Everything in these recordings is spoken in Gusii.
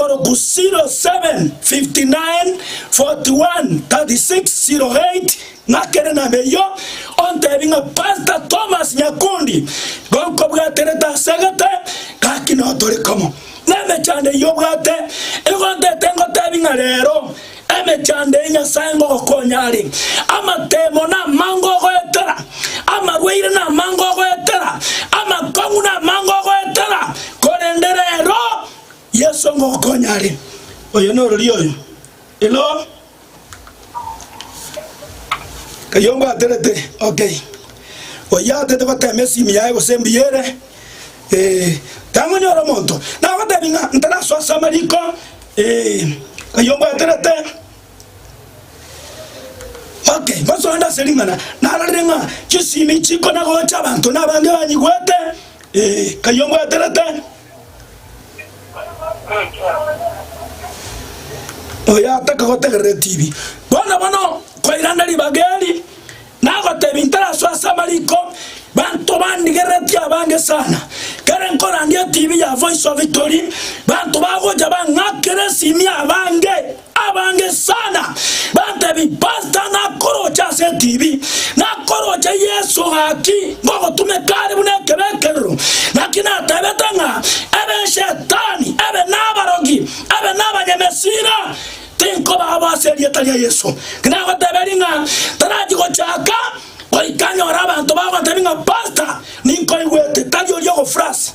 0759413608 ng'akere nab'eyio, ontebie ng'a Pastor Thomas Nyakundi nigo nkobwaterete ase egete, gaki nao tore komo. Na emechando eyio obwate, nigo ntete ngotebie ng'a rero emechando eye Nyasae ngogokonya are, amatemo namango ogoetera, amarwaire namango ogoetera, amakong'u namango ogoetera, korende rero, Yeso ngokonya are, Oyo norori oyo, elo kayombaterete okei. Oyatete goteema esimi yaye gose embuya ere, ee, tangonyora omonto. Nagotebi ng'a ntarasoa ase amariko, ee, kayombwaterete okei. Mosonde ase ring'ana, narorire ng'a chisimi chikona gocha abanto nabange banyigwete, ee, kayombwaterete. Oyataka gotegerera etibi bono bono koirana ribaga eri nagotebi ntarasoa ase amariko banto bandigerereti abange sana kere nkorandia etibi ya voice of victory banto bagocha bang'akera esimia abange. Abange sana bantebi pastor nakoroche ase etv nakoroche Yeso gaki ngogotumeka are buna ekebekerero naki natebete ng'a ebe eshetani ebe nabarogi ebe nabanyamesira tinkobaabo ase erieta ria Yeso tinagoteberi ng'a tarachi gochaka goika nyore abanto bagotebi ng'a pastor ninkoigwete tari oria ogofrasi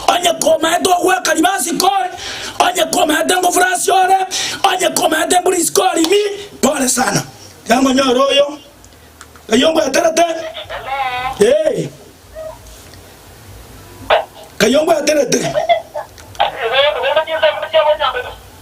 Onye komaete ogweka riba ase kore, onye komaete ngofura ase ore, onye komaete embura ise kore ime, pole sana. Tiga ngonyore oyo, ng'ai ongweterete, ee, ng'ai ongweterete.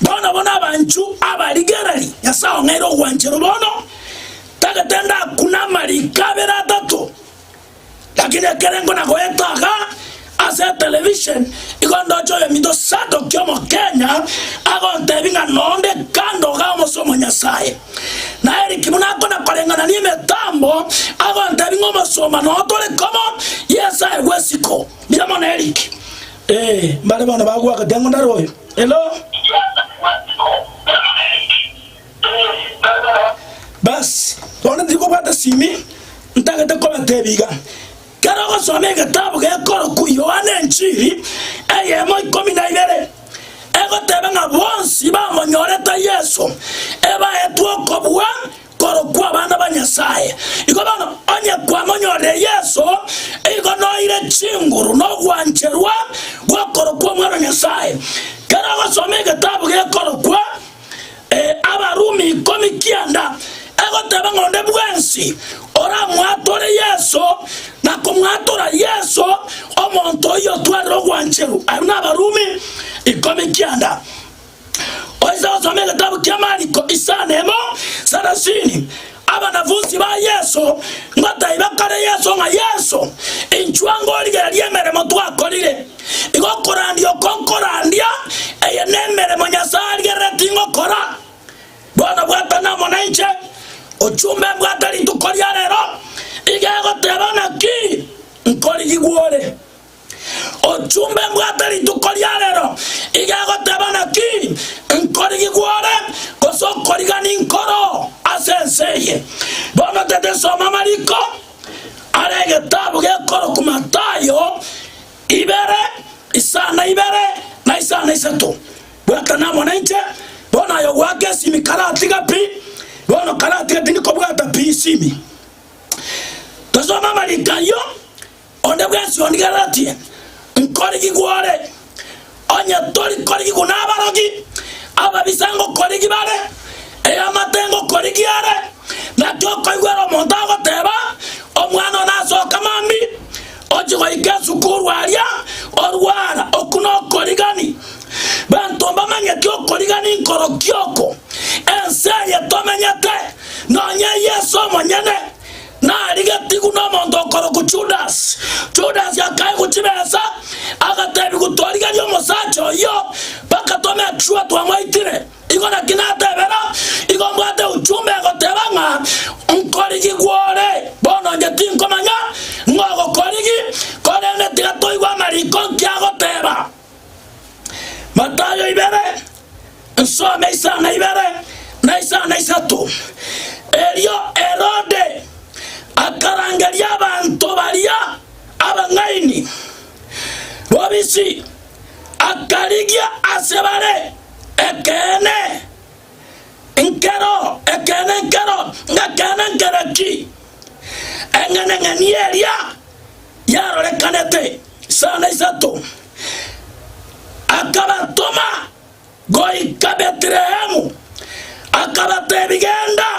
Bono abwo nabanchu aba rigereri, Nyasae ong'aire ogwancherwa bono, tagete ndakune amariko abere atato, lakini ekerengo na goeta iga ase etelevishon igo ndoche oyominto Sadoki omokenya agontebi ng'a nonde kando iga omose omonyasae. Na Eric buna akona koreng'ana nemetambo agontebi ng'a omosomba noo tore komo Yeso aye gwesiko. Mira mono Eric Ee, mbare bono bagoaka keng'ondo are oyo. Elo. Basi, bono tiri kobwata simi, ntagete kobatebia iga. Kera ogosoma egetabu gekorokwa Yohana Enchiri, eyemo ikomi na ibere, egoteba ng'a bonsi bamonyorete Yeso ebaetwe okobua korokwa abana ba Nyasae. Igo bono, onye kwamonyorire Yeso, igo noire chinguru na ogwancherwa gw'okorokwa omwana o Nyasae. Kera ogosoma egetabu gekorokwa Abarumi ikomi kianda, egoteba ng'a onde bwensi oramwatore Yeso na komwatora Yeso, omonto oyio otwarire ogwancherwa. Abwo n'Abarumi ikomi kianda. Oise gosoma egetabu kia Mariko isano emo sarasini. Abanafunsi ba Yeso ng'o taibakare Yeso ng'a Yeso, inchwa ngorigereria emeremo twakorire? Igo korandia oko nkorandia, eye nemeremo Nyasae arigerereti ngokora. Bono bwatana amo nainche, ochumbe mbwate rituko ria rero, iga egoteba ng'a ki nkorigigwore. Ochumba embwate rituko ria rero, iga egoteba naki, Nkorigi gwore, gose okorigani nkoro ase ense eye. Bono tete soma amariko are egetabu gekorokwa Matayo ibere, isana ibere na isana isato. Bwatana amo nainche, bono aye ogoaka esimi karatiga pi, bono karatiga tindi kobwata pi esimi. Tosome amariko ayio. Onde bwensi onigereretie nkorigigwe ore, onye tori korigigwa nabarogi, ababisa ngokorigi bare, eamate ngokorigi are, naki okoigwera omonto agoteba, Omwana one asoka mambi, ochie goika esukuru aria, orwara, oku nokorigani. Banto mbamanyeti okorigani nkorokia oko, ense eye tomenyete, nonya Yeso omonyene. narigetigwe nomonto okorokwa Judasi. Judasi akaegwa chibesa, agateebigwa, Torigerie omosacha oyio, mpaka tomekisure twamoitire. Igo naki natebera, igo mbwate uchumbe egoteba ng'a nkorigigwe ore. Bono inche tinkomanya ng'ogokorigi, korende tiga toigwe amariko nkiagoteba. Matayo ibere, nsome isano na ibere na isano na isato. Erio Herode akarangeria abanto baria abang'aini bobisi, akarigia ase bare ekeene nkero ekeene nkero ng'ekeene nkero ki eng'eneng'eni eria yarorekanete. Sana isato, akabatoma goika Betlehemu, akabateebia, Genda,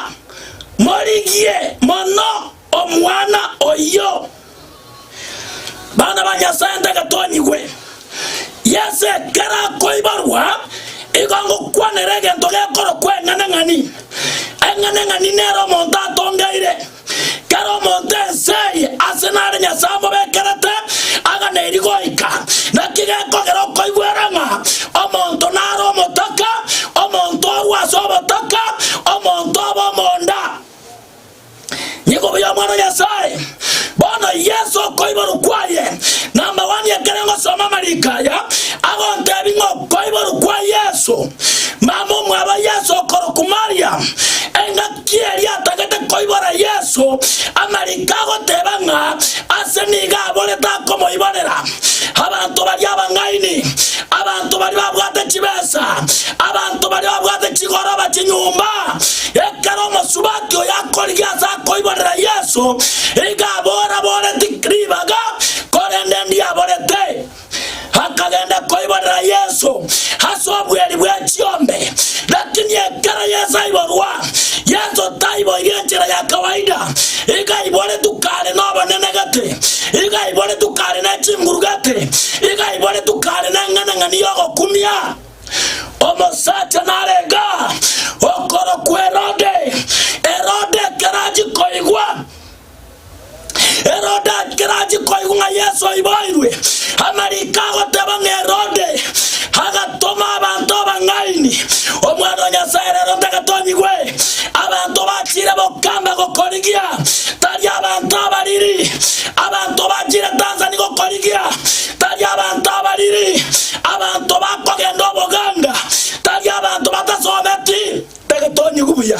morigie mono omwana oyio. Bana ba Nyasae, ntagetonyigwe. Yes, ekero akoiborwa, igo ngokwanera egento gekorokwa eng'aneng'ani. Eng'aneng'ani nere omonto atongeire. Kera omonto ense eye ase nare Nyasae amobekerete agane eria goika. Naki gekogera okoigwera ng'a omonto nare omotaka, omonto orue ase obotaka, omonto obe omonda. Nigo buya Omwana o Nyasae, bono Yeso okoiborwa kwaye. Namabwani ekero ngosoma amariko aya, agontebi ng'a okoiborwa kwa Yeso, mama omwabo Yeso okorokwa Mariam, engaki Naki erio atagete koibora Yeso amariko agoteba ng'a ase nigo aborete akomoiborera. Abanto baria abang'aini, abanto baria babwate chibesa, abanto baria babwate chigoroba chinyomba. Ekero omosubati oyo akorigia ase akoiborera Yeso, igo abora, Boreti ribaga, korende ndiaborete. Akagenda koiborera Yeso ase obweri bwe chiombe, lakini ekero Yeso aiborwa, Yeso taiboirie enchera ya kawaida, igo aiboretwe kare n'obanenegete, igo aiboretwe kare ne chingurugete, igo aiboretwe kare n'eng'anang'ani y'ogokumia. Omosacha narega okorokwa Herode. Herode ekero achia koigwa. Herode akerachi koigwa ng'a Yeso aiboirwe, amariko agoteba ng'a Herode agatoma abanto abang'aini, Omwana o Nyasae rero tagatonyigwe. Abanto bachire bokamba gokorigia, tari abanto abariri. Abanto bachire Tanzania gokorigia, tari abanto abariri. Abanto bakogenda oboganga, tari abanto batasometi, tagatonyigwe buya.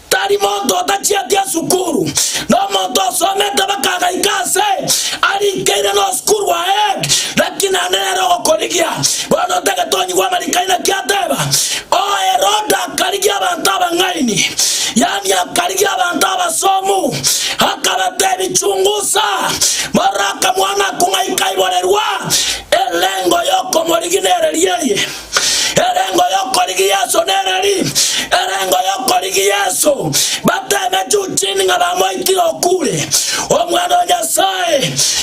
Tari monto otachieti esukuru, na omonto osomete bakagaika ase arinkeire nosukuru waek, naki nande nere ogokorigia. Bono otagete onyigwe amariko aino ki ateba, Oo Herode akarigia abanto abang'aini, yaani akarigia abanto abasomu, akabatebi Chungusa, mororo akamwana kung'aika aiborerwa elengo yokomorigia nere riaye. Erengo y'okorigia Yeso nere ri? Erengo y'okorigia Yeso bateme juu chini ng'a bamoitire okure. Omwana o Nyasae,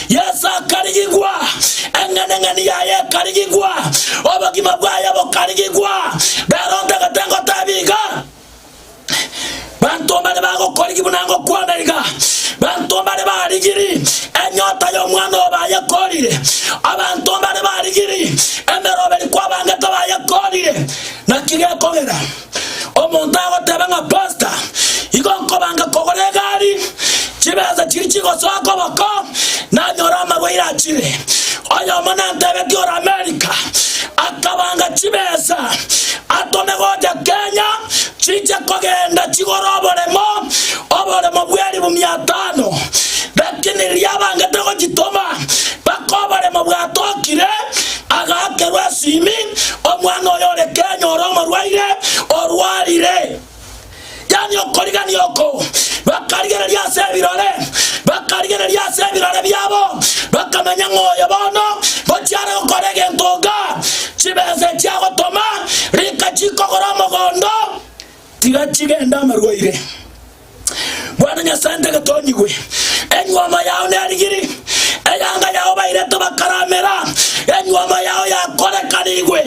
Yeso akarigigwa, eng'eneng'eni yaye ekarigigwa, obogima bwaye bokarigigwa. Rero ntagete ngotebie iga. Banto mbare bagokorigi buna ngokwana iga, banto mbare barigiri enyota y'omwana obo bayekorire, abanto mbare barigiri emeroberi kwabangete bayekorire. Naki gekogera omonto agoteba ng'a pasta, igo nkobanga kogora egari, chibesa chiri chigosoa koboko, nanyore amarwaire achire. Oyomo nantebetie ore Amerika, Akabanga chibesa atome gocha Kenya chiche kogenda chigore oboremo oboremo bw'eribu mia tano lakini riria abangete gochitoma mpaka oboremo bwatokire agakerwa esimi omwana oyo ore Kenya ore omorwaire orwarire yaani okorigania oko, bakarigereria ase ebirore, bakarigereria ase ebirore biabo, bakamenya ng'a oyo bono ngochia are gokora egento iga, chibesa echi agotoma rika chikogora omogondo, tiga chigende amarwaire. Bwana Nyasae ntagete onyigwe, enyuomo yao nerigiri, eyanga yao bairete bakaramera, enyuomo yao yakorekanigwe,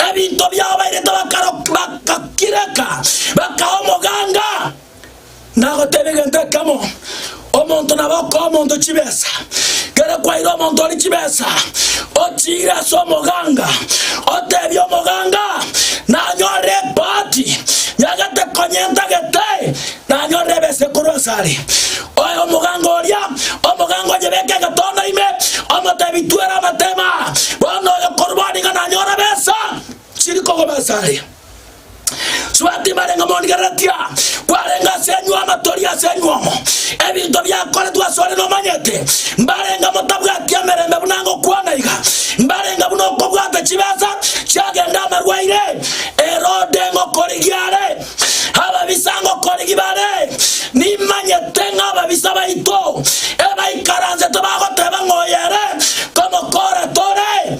ebinto biao bairete bakaro- ba- Bagakireka, bakaa omoganga, na agoteba egento ekemo, Omonto nabe okoa omonto chibesa. Kere kwaire omonto oria chibesa, ochiire ase omoganga, otebie omoganga, Nanyorire ebahati, nyagete konya entagete, nanyorire ebesa ekorwa ase are. Oe omoganga oria, omoganga onyebeke egetondo ime, omotebi, Twera amatemo aa, bono oyo korwa bono nigo nanyora ebesa. Chiri kogoba ase are. Sua tibarenge monigereretia, kwarenge ase enywe amatori ase enywe omo, ebinto biakoretwe ase ore nomanyete, mbarenge motabwati emerembe buna ngokwana iga, mbarenge buna okobwata chibesa chiagenda amarwaire, Herode ngokorigia are, ababisa ngokorigi bare, nimanyete ng'a ababisa baito ebaikaransete bagoteba ng'oyo ere komokoora tore,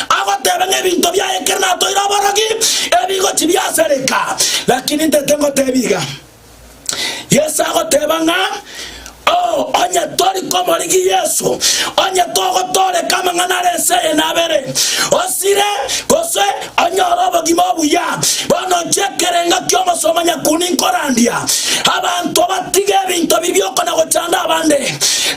Agoteba ng'a ebinto biaye ekero natoire oborogi, ebigo tibiasareka. Lakini intete ngotebie iga, Yeso agoteba ng'a, Oo, onye tori komorigia Yeso, onye togotoreka amang'ana are ense eye nabere, osire, gose onyore obogima obuya. Bono inche ekerengo ki'omosomba nyakuni nkorandia, abanto batige ebinto bibi okona gochanda abande,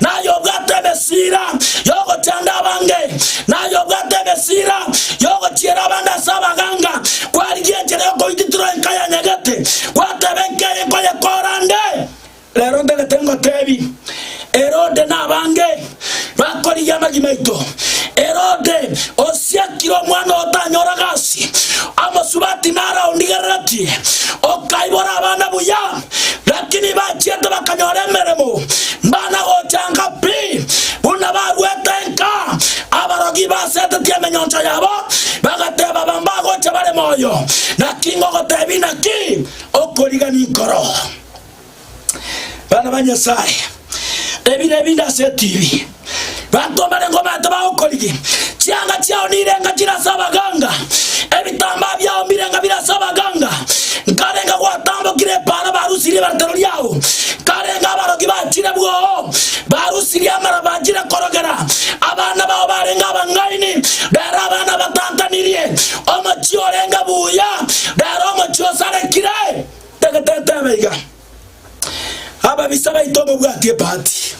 naye obwate emesa. Siira y'ogochanda abange, naye obwate egesiira gi'ogochiera abande ase abaganga, kwarigia enchera y'okoititirwa enka yanyegete, gwateeba enka eye nkoyekoora nde. Rero ntagete ngoteebie, Herode na abange bakorigia amagima aito. Herode osiakire omwana otanyora gasi, omosubati naro aondigereretie, okaibora abana buya. Lakini bachiete bakanyora emeremo, mbana gochanka pi, buna baruete enka. Abarogi basetetie emenyoncha yabo, bagateba bambagocha bare moyo, naki ngogotebi naki? Okorigani nkoro, bana ba Nyasae. Ebire ebinde ase etv. Banto mbarengo baete bagokorigia. Chianga chiao nirenga chire ase abaganga. Ebitambaa biao mbirenga bire ase abaganga. Nkarenga gwatambokire epaara barusirie ebaretero riao. Nkarenga abarogi bachire bwoo. Barusirie amara bachire korogera. Abana bao barenge abang'aini. Rero abana batantanirie. Omochie orenge buya. Rero omochie osarekire. Tagete etebe iga. Ababisa baito mbabwatie ebahati.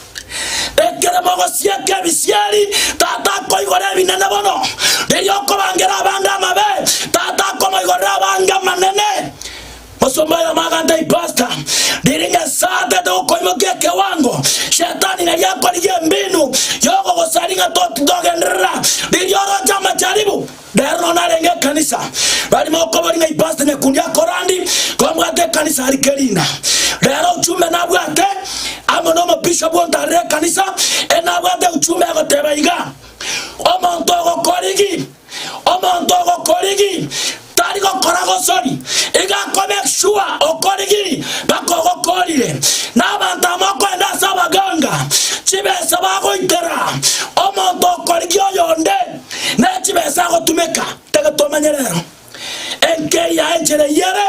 Ekero mogosieka ebisieri, Tata akoigora ebinene bono. Riria okobangera abange amabe, Tata akomoigorera abange amanene. Mosomba oyomo aganta ipasta, riria Nyasae atete gokoimokia ekewango, Shetani nari akorigia embinu yogogosaria ng'a toti togenderera riria oroche amacharibu. Rero nonya narenge ekanisa, bari mokobori ng'a ipasta nyakundi akorandi kombwata ekanisa ari keriina. Rero uchumbe nabwate amo nomobishop ontarire ekanisa ere nabwate uchumbe agoteba iga, Omonto ogokorigi, omonto ogokorigi tari gokora gosori, iga ko make sure okorigi baka ogokorire. Na abanto aba mokoenda ase abaganga chibesa bagoitera omonto okorigi oyonde. na chibesa agotumeka, tagetomanya rero. Enkei ya enchera eyio ere,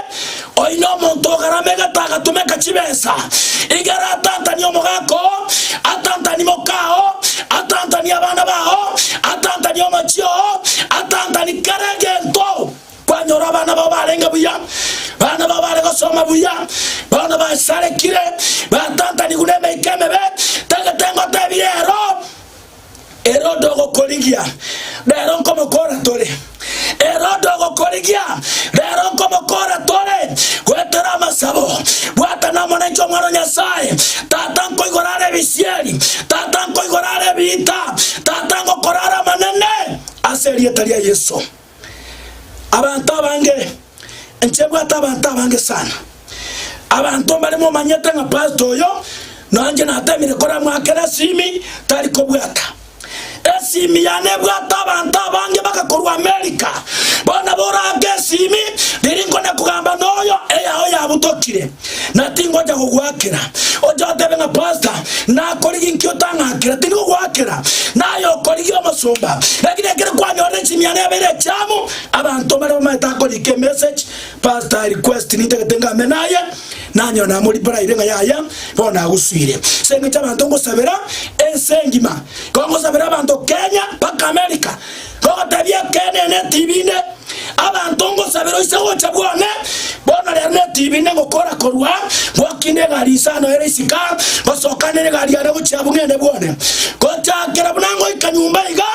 oino omonto ogarama egete agatumeka chibesa, igere atantanie omogaka oo, atantanie moka oo, atantanie abana bao, atantanie omochie oo, atantanie kera egento. Kwanyora abana bao barenge buya, bana bao bare gosoma buya, bono basarekire, batantaniwu nemeika emebe, tagete ngotebi rero. Herode ogokorigia, rero nkomokora tore. Herode ogokorigia, rero nkomokora tore. Goetera amasabo, bwata nomonencho omwana o Nyasae, tata nkoigora are ebisieri, tata nkoigora are ebiita, tata ngokora are amanene ase erieta ria Yeso. Abanto abange, inche bwate abanto abange sana. Abanto mbare momanyete ng'a pastor oyo nonya inche natemire koramwakera esimi tari kobwata esimi yane ebwate abanto abange baka korwa America bono nabo orake esimi riria nkona kogamba noyo eyao yabutokire na tingocha kogoakera. Oche otebe ng'a pasta nakorigia inki otang'akera, tindi kogoakera, naye okorigia omosomba. Lakini ekero kwanyorire chimiana ebere echiamu, abanto mbare bamaete akorika emessage, pasta I request nintagete ngame naye, nanyora namoriparaire ng'a yaya bono nagosuire. Ase eng'encho abanto ngosabera ense engima, igo ngosabera abanto Kenya mpaka America. Togotebia ekeene netibine, abanto ngosabera oise gocha bwane, bono rero netibine ngokora korwa ngwakina egari ise ano ere isika, ngosoka nere egari yane gochia buna ene bwane. Gochakera buna ngoika nyomba iga,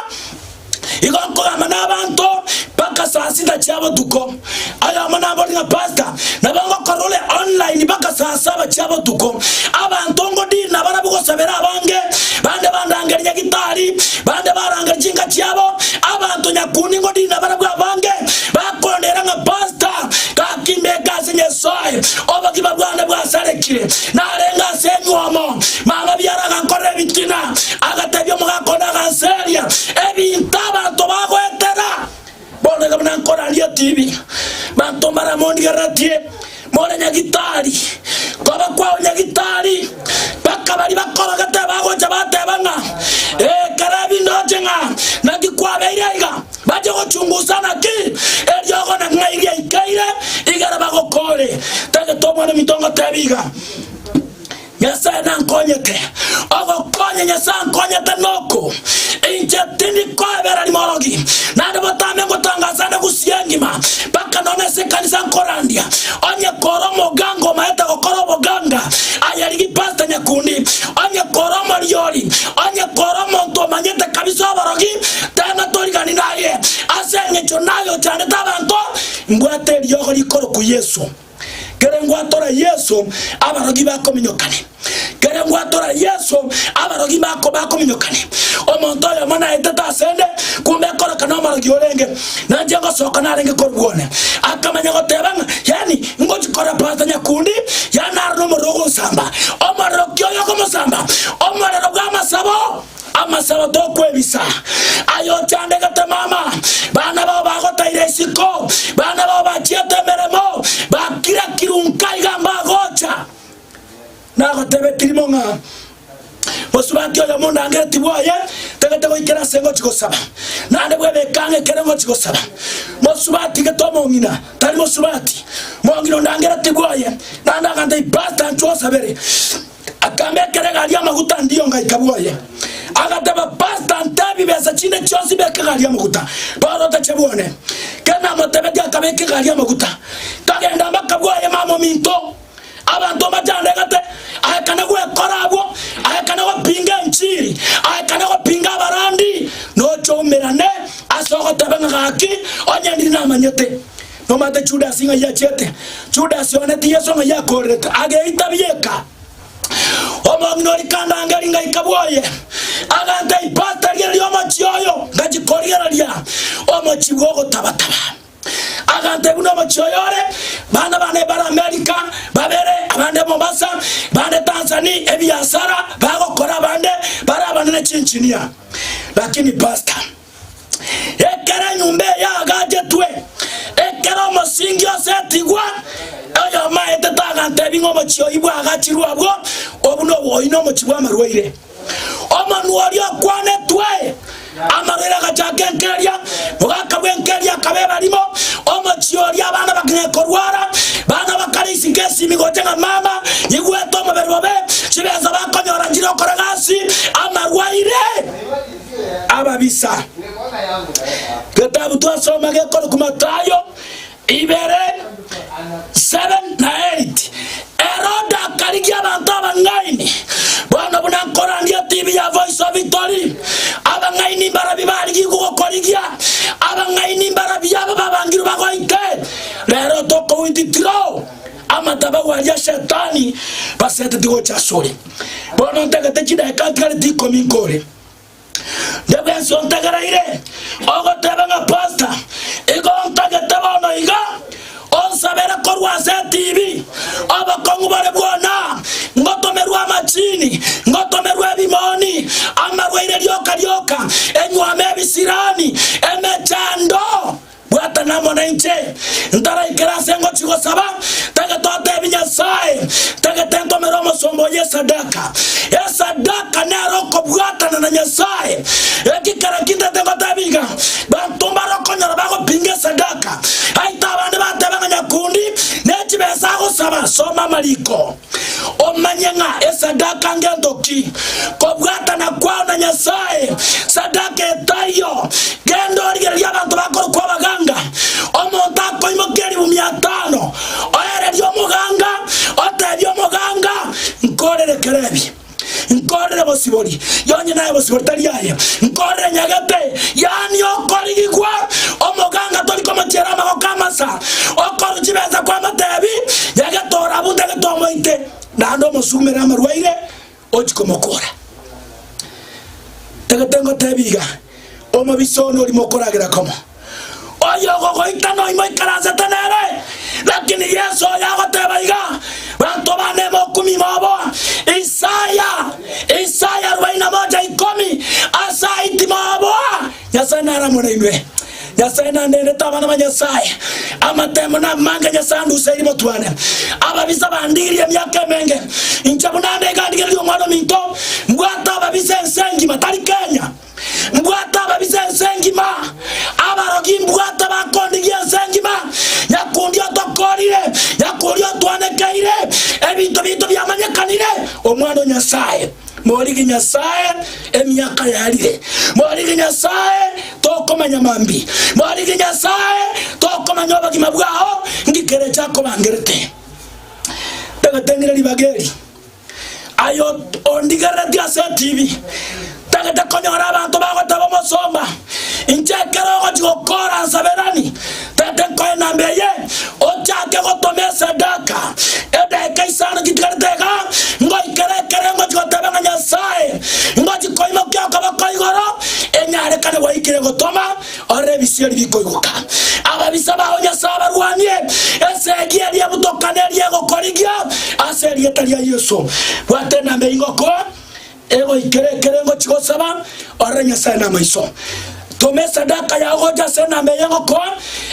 igo nkogamba nabanto mpaka saa sita chia botuko. Ayamo nabori ng'a pastor nabo ngokora ore online baka saa saba chia botuko abanto ngodiri nabarabwo gosabera abange bande bandangeri nyagitari bande barangeri chinka chiabo abanto nyakundi ngodiri nabarabwo abange bakondeera ng'a pastor gaki mbeke ase Nyasae obogima bwane bwasarekire narenge ase enyuomo mama biara agankorera ebitina agatebia omogaka one aganseria ebinto abanto bagoetera Bono iga buna nkoraria tibi, banto mbare mondigereretie, more Nyagitari. Koba kwao Nyagitari, mpaka baria bakorogete bagocha bateba ng'a, Ee, Kalebi ndoche ng'a naki kwabeire aiga, bache gochungusa naki eriogo na ng'a iria ikeire igere bagokore. Tagete Omwana-o-minto ngotebie iga. Nyasae nankonyete. Ogokonya Nyasae ankonyete noko, inche tindi koebera rimorogi, naende botambe ngotanga ase ane gusia engima, mpaka nonya ase ekanisa nkorandia. Onye kore omoganga omaete gokora oboganga, aye rigi pasta nyakundi, onye kore omoriori, onye kore omonto omanyete kabisa oborogi, tana torigani naye. Ase engecho naye ochandete abanto, mbwate eriogo rikorokwa Yesu. Kere ngwatora Yeso abarogi bakominyokane, kere ngwatora Yeso abarogi bako bakominyokane. Omonto oyomo naetete asende, kumbe ekoroka nomorogi orenge, nanche ngosoka narenge korwa bwone. Akamanya goteba ng'a yani ngochi kora pasta nyakundi, yani naro nomorero ogonsamba. Omorero ki oyo ogomosamba? Omorero bw'amasabo. amasabo tokwebisa, aye ochandegete mama, bana bao bagotaire isiko, bana bao bachiete emeremo, bakira kiru nka iga mbagocha. Nagotebe kirimo ng'a mosubati oyo mondangereti bwoye tagete goikera ase ngochi gosaba, naende bwebe ekanga ekere ngochi gosaba. Mosubati gete omong'ina tari mosubati, omong'ina ondangereti bwoye, naende agante ipasta nchwe osabere. Akambekera egari y'amaguta ndiyo ngaika bwoye. Agateba, Pastor, nte bibesa chinde chionsi beka egari y'amaguta. Paul otache bwone. Kere namotebetie akabeka egari y'amaguta. Kagenda mpaka bwoye mama ominto. Abanto mbachandegete. Aekana gwekora abwo. Aekana gopinga enchiri. Aekana gopinga abarandi. Nochoumerane ase ogoteba ng'a gaki onye ndiri namanyete. Nomanyete Judasi ng'ai achiete? Judasi ooneti Yeso ng'ai akoorerete, ageita bieka. Omong'ina oria kandangeri ng'ai kabwoye, agantee ipaata riane ri'omochie oyo, ngachia korigereria omochie bw'ogotabataba. Agantee buna omochie oyo ore, bana bane bare Amerika, babere, abande Mombasa, bande Tanzania, ebiasara bagokora abande bare abanene chinchinia. Lakini pasta, Ekero enyomba eye yagaachetwe, ekero omosingi osetigwa, oyomo aete tagantebi ng'a omochie oyio bwagachirwe abwo, obuna obwoyi na omochie bw'amarwaire. Omonwa oria okwanetwe amarwaire agachaka enkeria, mogaka bw'enkeria akaba ebarimo, omochie oria abana bakanya korwara, bana bakare isiko esimi gocha ng'a mama nyigwete omobere obe, chibesa bakonyora nchire okora gasi, amarwaire. ababisa. Getabu twasoma gekorokwa Mathayo ibere, 7 na 8. Herode akarigia abanto abang'aini, bono buna nkorandia tibi ya Voice of Victory, abang'aini mbarabio barigigwe gokorigia, abang'aini mbarabio aba babangirwe bagoite. Rero tokowititiro amatabau aria Shetani baseteti gocha asore. Bono ntagete chidaeka ntigareti ikomi nkore. Ndebe ense ontageraire ogoteba ng'a pasta igo ntagete bono iga onsabere korwa ase TV obokong'u bore bwona ngotomerwe amachini ngotomerwe ebimoni amarwaire rioka rioka enywame ebisirani emechando Bwatana amo nainche. Ntaraikera ase ngochia gosaba, tagete oteebie Nyasae, tagete nkomere omosomba oyio esadaka. Esadaka nere okobwatana na Nyasae. Eki kera kintete ngoteebia iga, banto mbare okonyora bagopinga esadaka. Aite abande bateeba ng'a nyakundi ne chibesa agosaba, soma amariko. Omanye ng'a esadaka ngento ki. Kobwatana kwao na Nyasae sadaka etaiyo, genda origererie abanto bakorokwa abaganga. Omonto akoimokia eribu mia tano, oererie omoganga, otebie omoganga, Nkorerekere ebi. nkorire bosibori, yonye naye bosibori tari aye, nkorire nyagete, yaani okorigigwa, omoganga tori komochiera amagoko amasa, okoru chibesa kwamotebi, nyagete orabu tagete omoite, naende omosumere amarwaire ochi komokora. Tagete ngotebi iga, omobisa one orimo okoragera komo. Oyogogoita noimo oikaransete nere. Lakini Yesu oyo agoteba iga, Banto bane mokumia ime obo, Isaya, Isaya arubaini na moja ikomi, ase ayio timoaboa, Nyasae naramore inwe, Nyasae nandenete abana ba Nyasae, amatemo namange Nyasae anduseirie motwane, ababisa bandigirie emiaka emenge, inche buna ande iga ndigererie Omwana-o-minto, mbwate ababisa ense engima, tari Kenya. Mbwata ababisa ense engima, abarogi mbwata bakondigia ense engima, nyakundi otokorire, nyakundi otwanekeire, ebinto biaito biamanyekanire, Omwana o Nyasae. Morigi Nyasae, emiaka yarire, morigi Nyasae, tokomanya mambi, morigi Nyasae, tokomanya obogima bwao, ngikere echakobangerete. Ndagateng'ire ribaga eri. Aye ondigerereti ase etibi tagete konyora abanto bagoteba omosomba, inche ekero ogochi gokoora nsaberani tagete nkoe namba eye, ochake gotoma esadaka edaika isano chitigarete iga, ngoikera ekero ngochi goteba ng'a Nyasae, ngochi koimokia okoboko igoro enyarekane gwaikire gotoma, Ore ebisieri bikoigoka, ababisa bao Nyasae abarwanie, esegi eria ebutokana eria egokorigia, ase erieta ria Yeso. Bwata ename ingoko, egoikera ekere ngochi gosaba, orere Nyasae namaiso. Toma esadaka yao gocha ase ename y'engoko,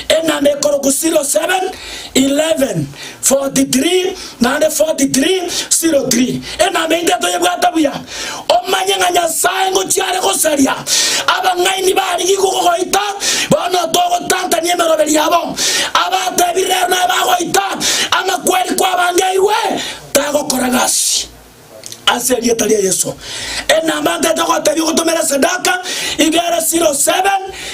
ename ekorokwa silo 7, 11, 43 naende 43, 03 Enamba yaito toyebwate buya, omanye ng'a Nyasae ngochia are gosaria abang'aini barigia igwa gogoita, bono togotantania emeroberi yabo. Abatebire rero naye bagoita, ang'a kweri kwabangeirwe tagokora gasi. ase erieta ria Yesu. Enamba ntete gotebia ogotomera esadaka iga ere 07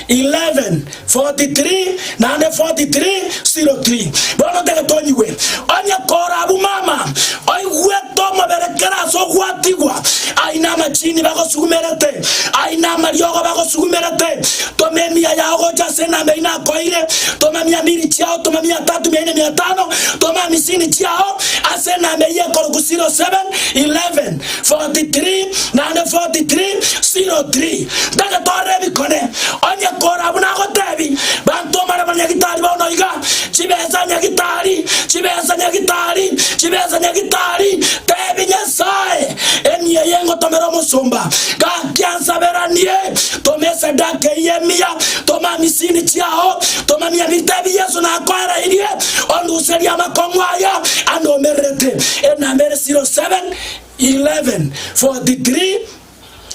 11 43 naende 43 03. Bono togete onyigwe. Onye kora abwo mama oigwete omobere kera ase ogwatigwa, aina amachini bagosugumerete, aina amariogo bagosugumerete, toma emiya yao gocha ase enamba eyio nakoeire, toma mia mbiri chiao, toma mia tatu, mia ine, mia tano, toma amisini chiao ase. Ase enamba eyio korokwa 07, 11, 43, naende 43, 03, ntagetoorera ebikone, onye kore abwo nagotebi, bantomore abanyagitari bao noiga, chibesa nyagitari, chibesa nyagitari, chibesa nyagitari, tebi Nyasae, Emiya eye ngotomera omosomba, gaki ansaberanie, toma esadaka eyio emiya, toma amisini chiao, toma miabito ebi Yeso nakoereirie, Onduserie amakong'u aya anomererete, enamba ere 07 11 43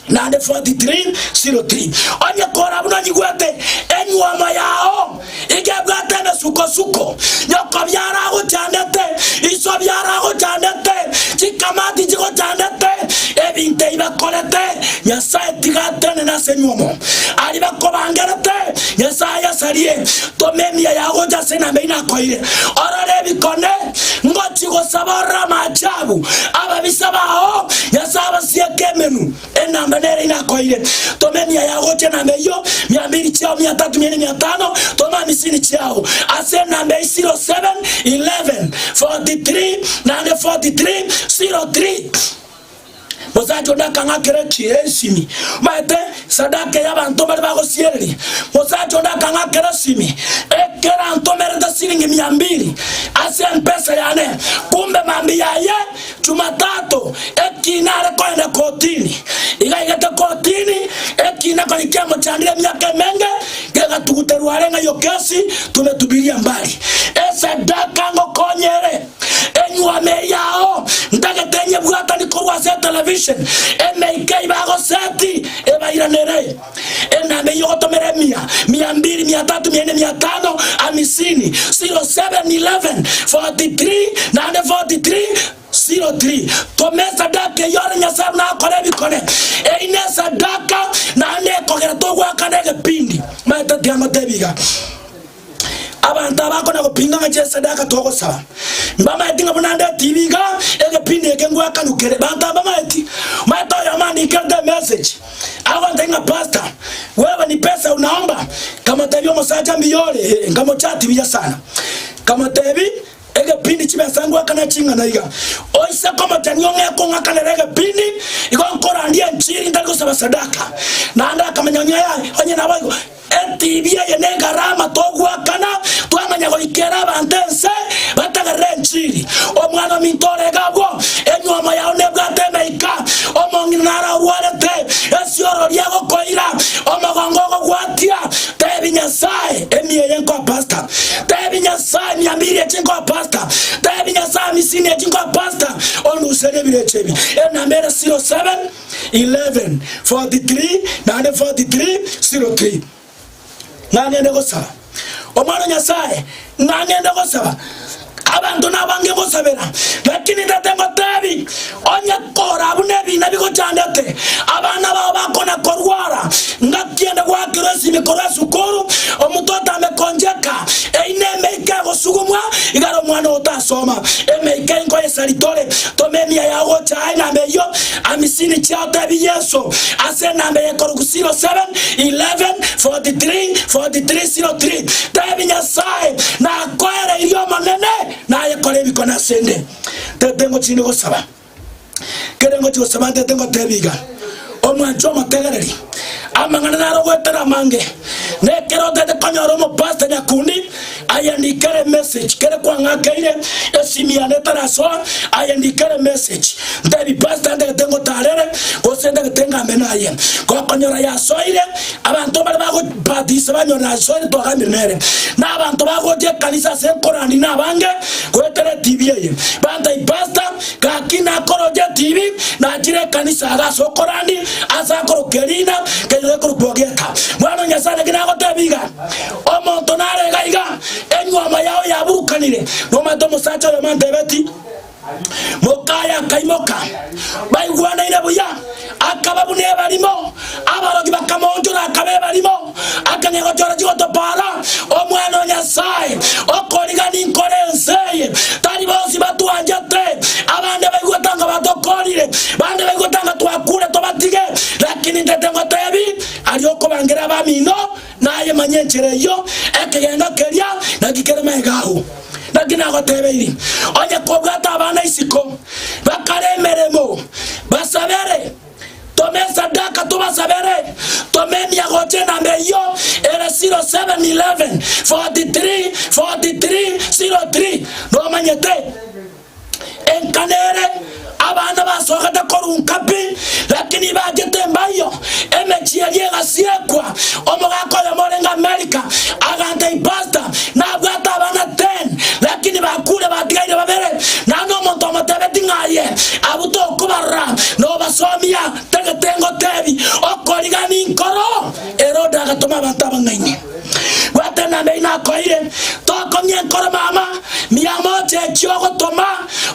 naende 43 03. Onye kora buna onyigwete, enywomo yao iga ebwate emesukosuko, nyoko biaro agochandete, iso biaro agochandete, chikamati chigochandete, ebinto ebi bakorete Nyasae tiga atenene ase enywomo, aria bakobangerete Nyasae ayasarie. Toma emiya yao gocha ase enamba eye nakoeire, orore ebikone ngochie gosaba orore amaachabu 'ababisa bao, Nyasae abasieke emenwa. Enamba nere eye nakoeire. Toma emiya yao gocha enamba eyio, mia mbiri chiao, mia tatu, mia ine, mia tano, toma hamisini chiao ase enamba eye 07, 11, 43, naende 43, 03. Mosacha onde akang'a kere chiesimi, omanyete, esadaka eye abanto mbare bagosiereria. Mosacha onde akang'a kere simi, ekera ntomerete siringi mia mbiri ase empesa yane, kumbe mambia aye Jumatatu ekina are koenda kotini. Igaigete kotini ekina konya kiamochandire emiaka emenge, gegatuguterwa are ng'a iyo kesi tube tubirie mbari. Esadaka ngokonye ere. Enyuoma eria ao, ntagete nyebwatani korwa ase etelevision, emeika eye bagoseti ebairanere, enamba eyio ogotomera emia, mia mbiri, mia tatu, mia ine, mia tano, amisini, 07, 11, 43, naende 43, 03. Toma esadaka eyio ore Nyasae buna akore ebikone. Eyi nesadaka naende ekogera togoakana egepindi. Maete tiamotebia iga. Abanto aba akona gopinga ng'a chiesadaka togosaba, mbamaeti ng'a buna ndeti ibi iga egepindi eke ngwakanukere. Banto aba mbamaeti, omanyete oyomo andikerete emessage agontebia ng'a pastor wewe ni pesa unaomba? Nkamotebia omosacha mbuya ore? Ee, nkamochati buya sana. Nkamotebia egepindi chibesa ngwakana ching'ana iga, oise komochani ong'eke ong'akanere egepindi igo nkorandia enchiri ntari gosaba sadaka. Naende akamanya onye aye onye naboigo. Entibi eye negarama togoakana, twamanya goika ere abanto ense batagerere enchiri. Omwana ominto ore iga abwo, enywoma yao nebwate emeika, omong'ina naro orwarete esiorori agokoira, omogongo ogogwatia, tebi Nyasae, emia eye nkoa pasta, tebi Nyasae, mia mbiri echi nkoa pasta, tebi Nyasae, amisini echi nkoa pasta, onduserie ebirecha ebi, enamba ere zero seven. 11:43 naende 43:03 Nangende gosaba Omwana o Nyasaye, nangende gosaba abanto nabange gosabera, lakini Tata ngotebi, onye kora buna ebina bigochandete, abana bao bakona korwara, ngaki ende goakirwa esimi korwa esukuru, omonto otambe koncheka, eina emeika egosugumwa igare omwana oyo tas. Soma, Emeika inkoyesa ritore, toma emiya yao gocha aye namba eyio, amisini chiao tebi Yeso ase enamba eye korokwa 07, 11, 43, 43, 03, tebi Nyasaye nakoereirie Omonene naye kore ebikone asende, tete ngochini gosaba. Kere ngochia gosaba ntete ngoteebie iga, Omwancho omotegereri, amang'ana naro goetera amange, na ekero otaete konyora omopasta nyakundi, aye ndikera emessage, kere kwang'akeire, esimi yane etarasoa, aye ndikera emessage, nteebie pasta ndagete ngotaarere, gose ndagete ngame naye, gokonyora yasoire, abanto mbare bago. Batiso banywa Nasoni twaganire nere na abanto bagochia ekanisa ase nkorandi na abange goetera etibi eye bantai pastor gaki nakoroche etibi nachire ekanisa aga ase okorandi ase akoroka erina kenyoro gekorokwa ogieka mwana o Nyasaye naki nagotebi iga omonto nare iga iga enyuoma yao yaburukanire nomanyete omosacha oyomo antebeti Mokaya akaimoka, baigwanaine buya, akaba buna ebarimo. Abaroki bakamoonchora akaba ebarimo, akang'ia gochora chigotopara, Omwana o Nyasae, okoriga ninkore ense eye. Tari bonsi batwanchete, abande baigwe tanga batokorire, bande baigwe tanga twakuure tobatige, lakini ntete ngotebi, aria okobangera abamino, Naye manya enchera eyio, ekegenga keria naki kere magega agwo. Naki nagotebeiri, onye kobwate abana isiko, bakare emeremo, basabere, toma esadaka tobasabere, toma emia gocha enamba eyio ere 0711 43 43 03, nomanyete. Enkana ere abana basogete korunka pi, lakini ibachete embayo, emechie eria egasiekwa. Omogaka oyemo orenge Amerika aganta ipasta, nabwate abana ten, lakini bakure batigaire babere, nano omonto omotebeti ng'a aye abwo tokobarora nobasomia, tagete ngotebi, okoriga ninkoro. Herode agatoma abanto abang'aini. Goetera naende aino akoeire, tokong'ia enkoro mama miamo ochechi ogotoma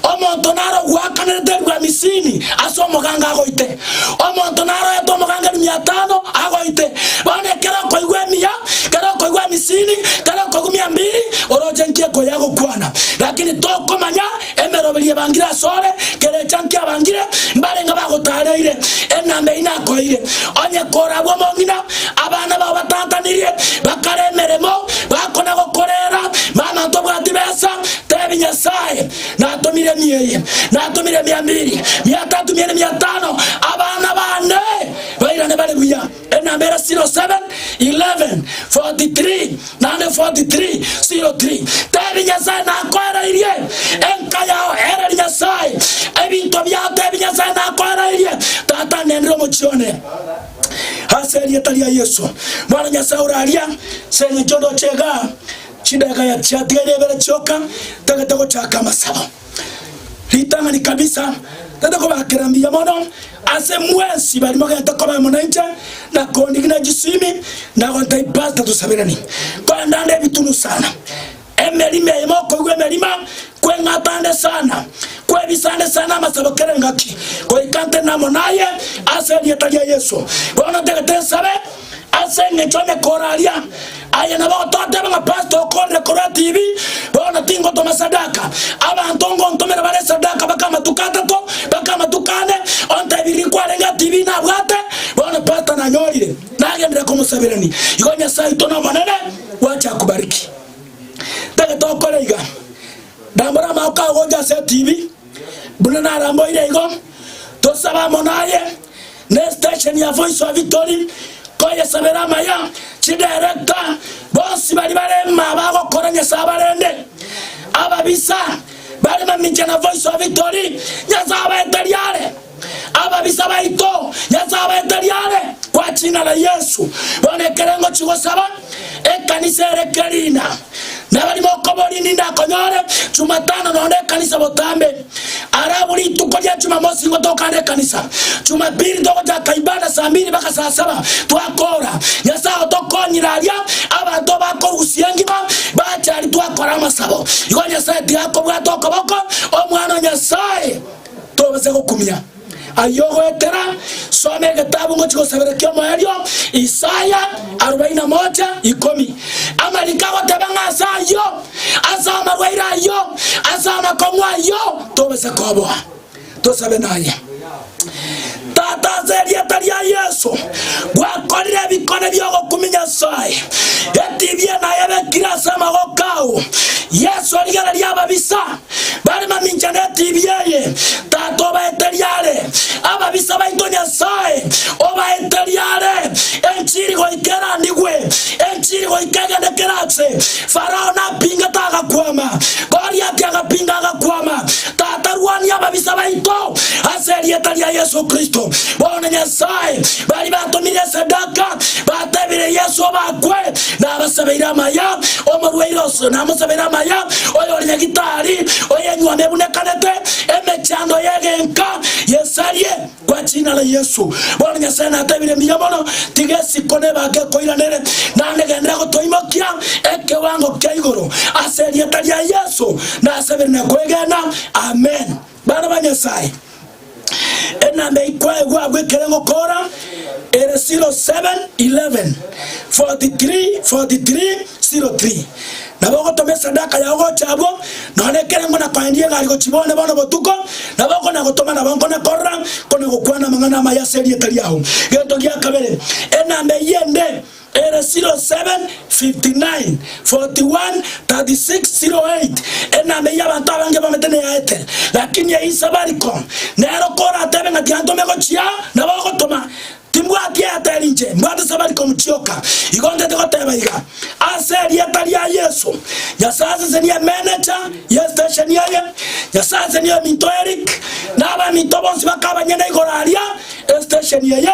omonto naro ogwakanerete erua misini ase omoganga agoite. Omonto naroete omoganga erua miatano agoite. Bono ekero okoigwa emiya, ekero okoigwa emisini, ekero okoigwa miambiri, oroche nki ekoyia gokwana. Lakini tokomanya Emeroberi ebangire asore, kera echankio abangire, mbarenge bagotareire, enamba eyio nakoeire, onye korabwo omong'ina, abana bao batatanirie, bakare emeremo, bakona gokorera, mana tobwati besa, tebi Nyasaye, natomire emia eye, natomire emia mbiri, mia tato, mia ene, mia tano, abana bane bairane bare buya. Enamba ere 07, 11, 43, naende 43, 03. Tebi, Nyasae nakoereirie, enka yao ere Nyasae, ebinto biao tebi, Nyasae nakoereirie, Tata ngenderera omochie one. Ase erieta ria Yesu, Mwana o Nyasae ore aria, ase eng'encho ndoche igaa, chidakika chiatigaire ibere chioka, ntagete gochaka amasabo. Ritang'ani kabisa, tari kobakera mbuya mono ase mwensi baria mogete koba amo nainche, na kondigi na chisimi, na gontebia, Pastor tosaberanie, kogenda nde ebitunu sana, emerimo eyemo okoigwa emerimo, kweng'ata nde sana, kwebisa nde sana amasabo kera engaki, goika ntenena amo naye ase erieta ria Yeso. Bono tagete nsabe. Ase engencho onde koraria aye nabo ototeba ng'a pastor okorire korwa TV bono tingotoma sadaka. Abanto ngontomera bare sadaka baka amatuko atato, baka amatuko ane, ontebiri riko arenge a TV nabwate, bono pastor nanyorire nagenire komosaberani. Igo Nyasae oito nomonene gwache akubariki. Tagete okore iga. Rambora amaoko ao gocha ase TV buna naramboire igo. Tosaba mono aye. Ne station ya Voice of Victory koyesabera amaya, chi director bonsi baria bare maa bagokora Nyasaye abarende. Ababisa bare mamincha na Voice of Victory Nyasaye abaete riare. Ababisa baito Nyasaye abaete riare kwa ching'a la Yesu. Bono ekero ngochi gosaba ekanisa ere kerina. Nabari bokobori ninde akonyore Chumatano noone ekanisa botambe. Ara abwo rituko ria Chumamosi nigo tokaane ekanisa. Chumapili togochaka ibada saa mbili mpaka saa saba twakoora. Nyasae otokonyire aria abanto bakorusia engima bachari twakora amasabo. Igo Nyasae tigakobwata okoboko omwana o Nyasae tobase gokumia. Aye ogoetera, soma egetabu ngochia gosabera ki'omoerio, Isaya arobaini na moja, ikomi. Amariko agoteba ng'a ase ayio, ase amagweire ayio, ase amakong'u ayio tobisa koboa. Tosabe naye. Tata, ase erieta ria Yeso, gwakorire ebikone bi'ogokumia Nyasae, etibi eye naye ebekire ase amagoko ao. Yeso rigereria ababisa. Bare mamincha netibi eye, Tata obaete riare ababisa baito Nyasae obaete riare enchiri goika erandigwe enchiri goika egende kera ase Farao napingete agakwama. Goliati agapinga agakwama. Tata rwania ababisa baito ase erieta ria Yesu Kristo. Bono Nyasae bari batomire esadaka ba. Atebire Yesu abakwe, Nabasabeire amaya, omorwaire oso namosabeire amaya, oyore nyagitari, oyenywa nebunekanete, emechando y'egenka yesarie. Gwachiinana Yesu, bono Nyasae natebire mbuya mono, Tiga esiko nebake ekoiranere, naende genderera gotoimokia ekewango kia igoro. Ase erieta ria Yesu nasabire na koegena. Amen. Bana ba Nyasae. enamba eye kwaegwa agwo ekere ngokora ere 0711 43 43 03 nabo ogotoma esadaka yao gocha abwo nonye ekere ngona koendia egari gochibone bono botuko nabo okona gotoma nabo nkona korora kona gokwana amang'ana amaya ase erieta riao gento gia kabere enamba eye ende 07:59:41:36:08 Enana eyio abanto abange bamanyete neyaete, lakini eyio Isafaricom nero koratebe ng'a tiantome gochia nabo ogotoma, timbwati Airtel inche, mbwate Safaricom chioka. Igo ntete goteba iga, ase erieta ria Yesu, Nyasae asesenie emeneja ye station eye, Nyasae asesenie ominto Eric, na abaminto bonsi bakabanyene igoro aria estation eye,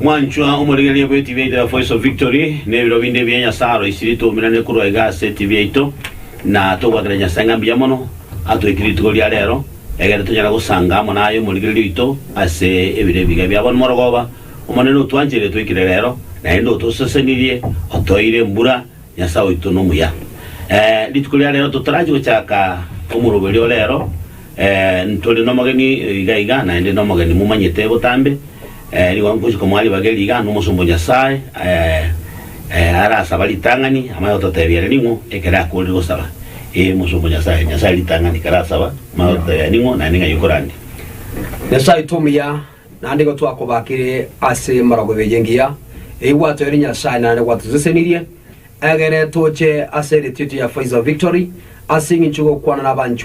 Mwanchwa omorigereria bw'etibi yaito ya Voice of Victory, na ebiro binde bia Nyasae aroisirie twoumerane korwa iga ase etibi yaito, na togwakera Nyasae ng'a mbuya mono atweke rituko ria reero, egere tonyare gosanga amo naye omorigereria oito ase ebiro ebiga bia bono. Morogoba, Omonene otwancheire twekire reero, naende otosesenirie, otoire embura, Nyasae oito nomuya. Eh, rituko ria rero totorachi gochaka omoroberio o rero, eh, ntori nomogeni iga iga, naende nomogeni momanyete botambe, eh, rigwa nkochi komoa ribageri iga nomosomba o Nyasae, eh, eh, arasaba ritang'ani, amanye gototebia ere ning'o ekero akorire gosaba. Ee, omosomba o Nyasae, Nyasae ritang'ani, ekero asaba, amanye gototebia ere ning'o, naende ng'ai okorandia. Nyasae oito omuya. Naende igo twakobakire ase emorogobe eye engiya, eyio gwatoeire Nyasae naende gwatosesenirie, egere toche ase eretio ria Voice of Victory, ase engencho y'ogokwana nabanchwa,